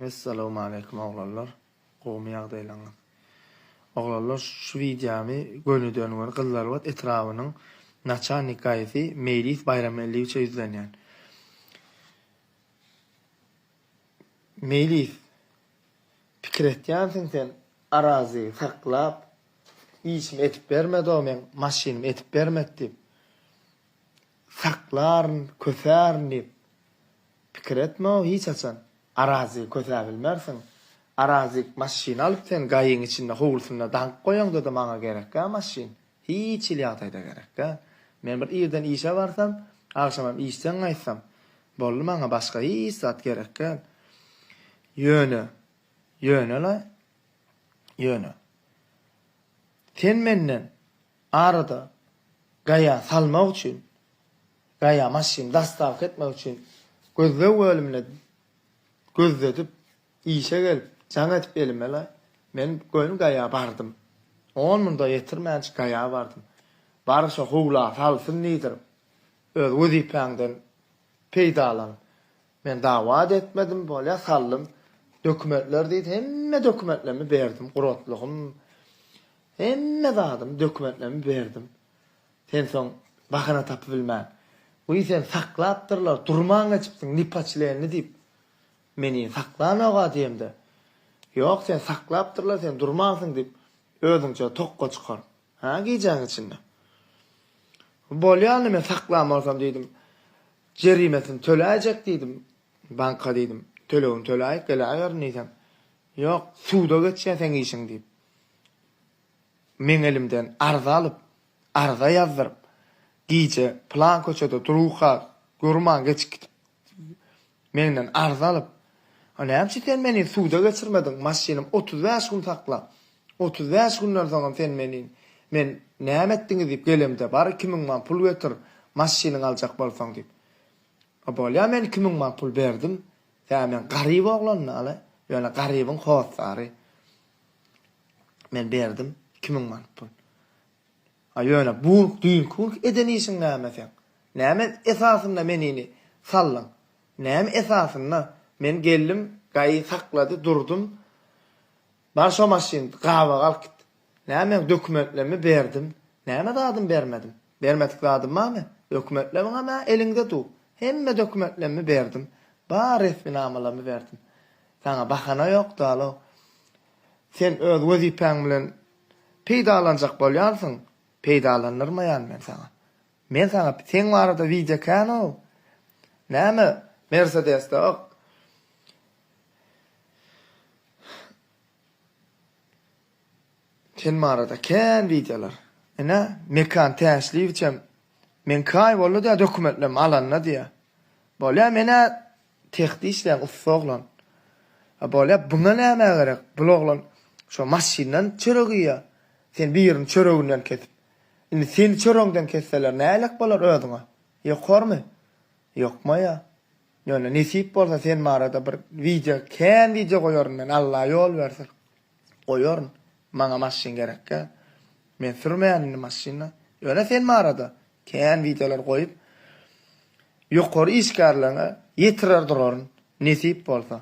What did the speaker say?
Essalawmaleýkum oglanlar gowmy ýagdaýlaryňyz oglanlar şu wideomy gönüden göni gyzlarbat etrabynyň naçalnik gaýysy meýlis baýramgeldiýewiçe ýüzlenýän meýlis pikir etýänsiň sen arazy saklap işimi edip bermedi o meň maşynymy edip bermedi diýip. Saklaryn, kösärin diýip, pikir etme-ow hiç haçan. Arazy kösäp bilmersiň. Arazy maşyn alyp sen gaýyň içinde howlusynda daňyp goýaňda-da maňa gerek-ä maşyn. Hiç hili ýagdaýda gerek däl. Men bir irden işe barsam, agşamam işden gaýtsam, boldy maňa başga hiç zat gerek däl. Ýöne, ýöne-le, ýöne. Sen menden Arada Gaýa salmak üçin, Gaýa maşyny dastavka etmek üçin gözleg bölümine gözledip, işe gelip, jaň edip elimele, men göni Gaýa bardym. On munda ýetirmänçik Gaýa bardym. Bary şo howla salsyn diýdirip, öz wezipäňden peýdalan. Men dawad etmedim bolýa saldym dokumentler diýdi hemme dokumentlemi berdim guratlygym hemme zadym dokumentlemi berdim sen soň bahana tapybilmän wii seni saklapdyrlar durman geçipsiň nipoçlenni diýip meni saklanoga diýemde ýok seni saklapdyrlar sen durmansyň diýip özüňçe tokga çykar Hä, gijäň içinde. Bolýany men saklan bolsam diýdim. Jerimesini töläýjek diýdim. Banka diýdim. Tölegini töläýip geläýerin diýsem. Ýok, suda geçýär seň işiň diýip. Meň elimden arza alyp, arza ýazdyryp, gije plan köçede durka, görman geçip gidip Menden arz alyp, A näme üçin sen meni suda geçirmediň, maşynym otuz bäş gün sakla, otuz bäş günden soňam sen meni men näme etdiňiz diýip gelemde, bar iki müň man pul getir, maşynyňy aljak bolsaň diýip. A bolýa men iki müň man pul berdim. Tä men garyp oglanlaly, ýöne garybyň hossary. Men berdim iki müň man pul. A ýöne bu düýnki günki eden işiň näme seň? Näme esasynda menini saldyň? Näme esasynda men geldim gaýy saklady durdum bar şo maşyn gabaga alyp git. Näme meň dokumentlerimi berdim näme zadymy bermedim. Bermedik zadym bar men dokumentleriňem ä eliňde du hemme dokumentlerimi berdim bar resminamalarymy berdim. Saňa bahana ýok dalo. Sen öz wezipäň bilen Peýdalanjak bolýansyň, peýdalandyrmaýan men saňa. Men saňa seň barada wideo ekän-ow. Näme Mersedesde ok. Sen barada kän wideolar. Ine, Mekan Täşliýewiçem, Meň kaý boldy-da dokumentlerimi alanda diýýär. Bolýa men-ä Sehde işleýän ussa oglan. A bolýa buňa nämä gerek bul oglan şo maşyndan çörek iýýa sen birini çöreginden kesip indi seni çöregiňden kesseler nälet bolar özüňe ýokarmy ýokmaýa ýöne nesip bolsa sen barada bir wideo kän wideo goýaryn men Alla ýol bersin. Goýaryn. Maňa maşyn gerekkä. Men sürmeýän indi maşyny. Ýöne sen barada kän wideolar goýup, ýokary işgärligiňe ýetirer duraryn, nesip bolsa.